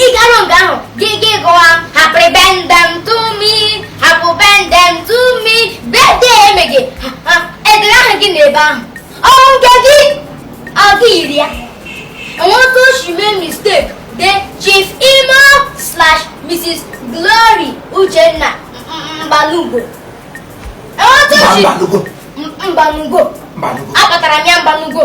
ị garu nga ahụ gị gị gụwa happy birthday to me happy birthday to me birthday emeghị edere aha gị n'ebe ahụ ọrụ nke gị ọ gị yiri ya enweta oshi mee mistake dee chief imo slash mrs glory uchenna mbalugo enweta oshi mbalugo mbalugo akpatara m ya mbalugo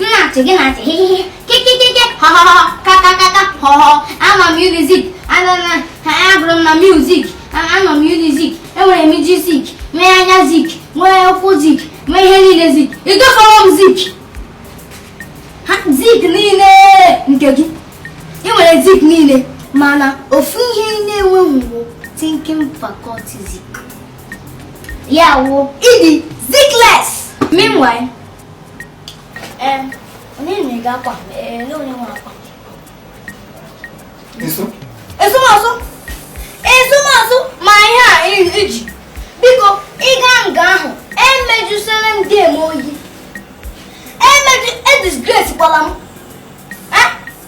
na-achị gị na-achị hihihi kikikiki họhọhọ kakakaka họhọ anọ m unizik anana ha agụrụ m na unizik anọ m unizik enwere m isi zik mee anya zik nwee ụkwụ zik mee ihe niile zik ịgafọrọ m zik ha zik niile nke gị ị nwere zik niile mana ofu ihe na-enweghị bụ thinking faculty zik ya wụ ị dị zikless meanwhile ee onye na-ege akwa ee onye nwe akwa ezumasụ ezumasụ ma ihe a iji biko ị gaa nga ahụ emejusere ndị eme oyi edisgracekwala m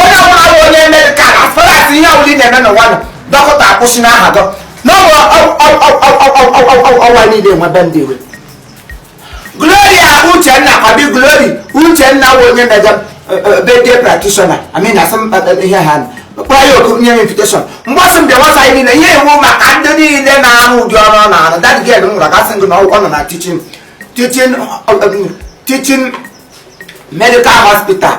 onye ọbụla bụ onye medical as far as ihe ọbụla ị na-eme n'ụwa nọ dọkịta akwụsị n'aha gị n'ọbụ ọwa niile nwebe ndị iwe gloria uchenna kwa abi glory uchenna bụ onye meje birthday practitioner I mean asị ihe ha kpọrọ ya oku nye m invitation mgbasị mbịa nwasa anyị niile ihe iwu maka ndị niile na-arụ ụdị ọrụ ọ na-arụ that girl m gwara gasị gị na ọ nọ na teaching teaching teaching medical hospital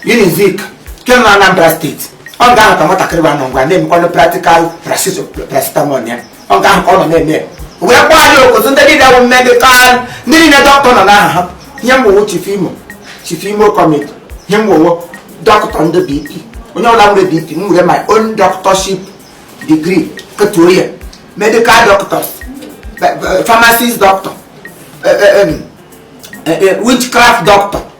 Unizik nke nọ Anambra state ọ nga ahụ ka nwatakịrị a nọ ngwa na-emekwanụ practical paracetamol ya ọ nga ahụ ka ọ nọ na-eme wee kpọọ anyị oku otu ndị niile bụ medical ndị niile dọkịta nọ n'aha ha ihe mgbowo chief imo chief imo committee ihe mgbowo dọkịta ndị bp onye ọbụla nwere bp m nwere my own doctorship degree ketuo ya medical doctors pharmacist doctor witchcraft doctor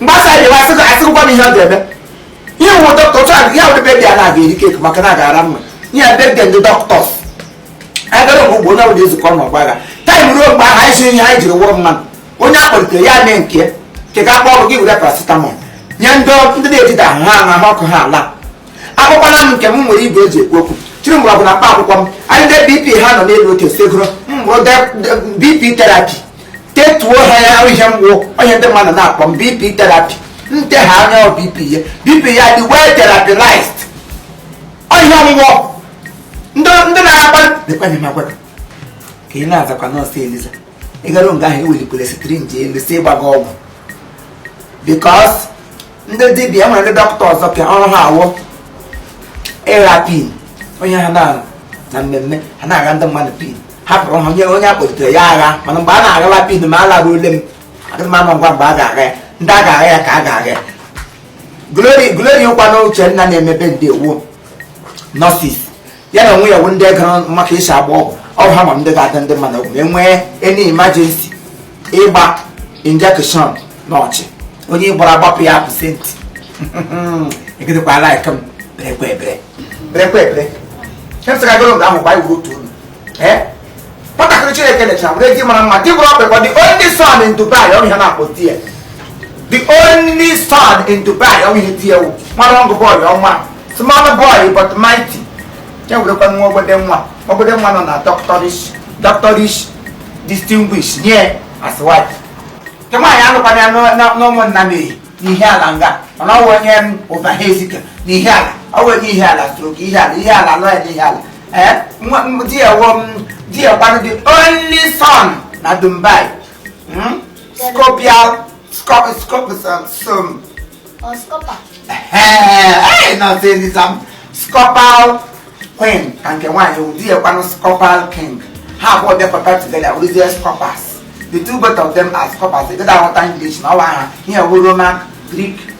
mgbasa anyị wa asịkọ asịkọkwa m ihe ọ ga-eme ihe wụ dọkịta otu a ya wụrụ birthday a na-aga eri cake maka na agara mma ihe a birthday ndị doctors a gara mgbe ugbo onye ọbụla ezukọ na ọgba agha time ruo mgbe ahụ anyị si ihe anyị jiri wụrụ mmanụ onye a kpọlitere ya mee nke ya nke ka akpọ ọrụ gị were paracetamol nye ndị ndị na-ejide ahụ ha ahụ ahụ ọkụ ha ala akpọkwala m nke m nwere igwe e ji ekwu okwu chịrị mgbọrọgwụ na mkpa akwụkwọ m anyị ndị bp ha nọ n'elu otu esegoro m bụrụ bp therapy tetuo ha ya ahụ ihe mgbu onye ndị mmadụ na-akpọ m bp therapy nte ha anya ọ bp ya bp ya dị well therapized onye ọgwụgwọ ndị ndị na-akpa dịkwanye m agwara ka ị na-azakwa nọọsụ eliza ị garu nga ahụ ewelikwala syringe elu sị ịgba gị ọgwụ because ndị dibịa e nwere ndị doctor ọzọkwa ọrụ ha wụ ịgha pen onye ha na-arụ na mmemme ha na-agha ndị mmadụ pen hapụrụ ha onye onye akpọlitere ya agha mana mgbe a na-aghala pen ma a lara ule m adịghị m ama ngwa mgbe a ga-agha ya ndị a ga-agha ya ka a ga-agha ya glory glory kwanụ uchenna na-emebe ndị a wụ nurses ya na onwe ya bụ ndị ga-ama ka e si agba ọgwụ ọ ha ma ndị ga-adụ ndị mmadụ ọgwụ e nwee any emergency ịgba injection n'ọchị onye gbara agbapụ ya patient egidekwa like m berekwa ebere berekwa ebere emsịkagoro nga ahụ gba iwu otu olu nwatakịrị chineke nechara were di mara mma di bụrụ ọkpekọ the only son in dubai ọ bụ ihe na-akpọ di ya the only son in dubai ọ bụ ihe di ya wụ mara ọngụ bọọlụ ọnwa small boy but mighty ya werekwa nwa ogbode nwa ogbode nwa nọ na doctorish doctorish distinguish nye as wife nke nwaanyị anụkwana ya n'ọ- na- n'ụmụnnamehi n'ihiala nga mana ọ wụ onye ụbahaezike n'ihiala ọ wụ onye ihiala stroke ihiala ihiala nọ ya n'ihiala Eh, di ya wụ di ya kwanụ the only son na Dubai hmm? scorpial scop scop some or scopper eh no say this am scopal queen ka nke nwaanyị wụ di ya kwanụ scopal king ha abụọ bịakọta together wụrụzie scopas the two both of them are scopas ị gaghị aghọta English na ọwa ha ihe wụ Roman Greek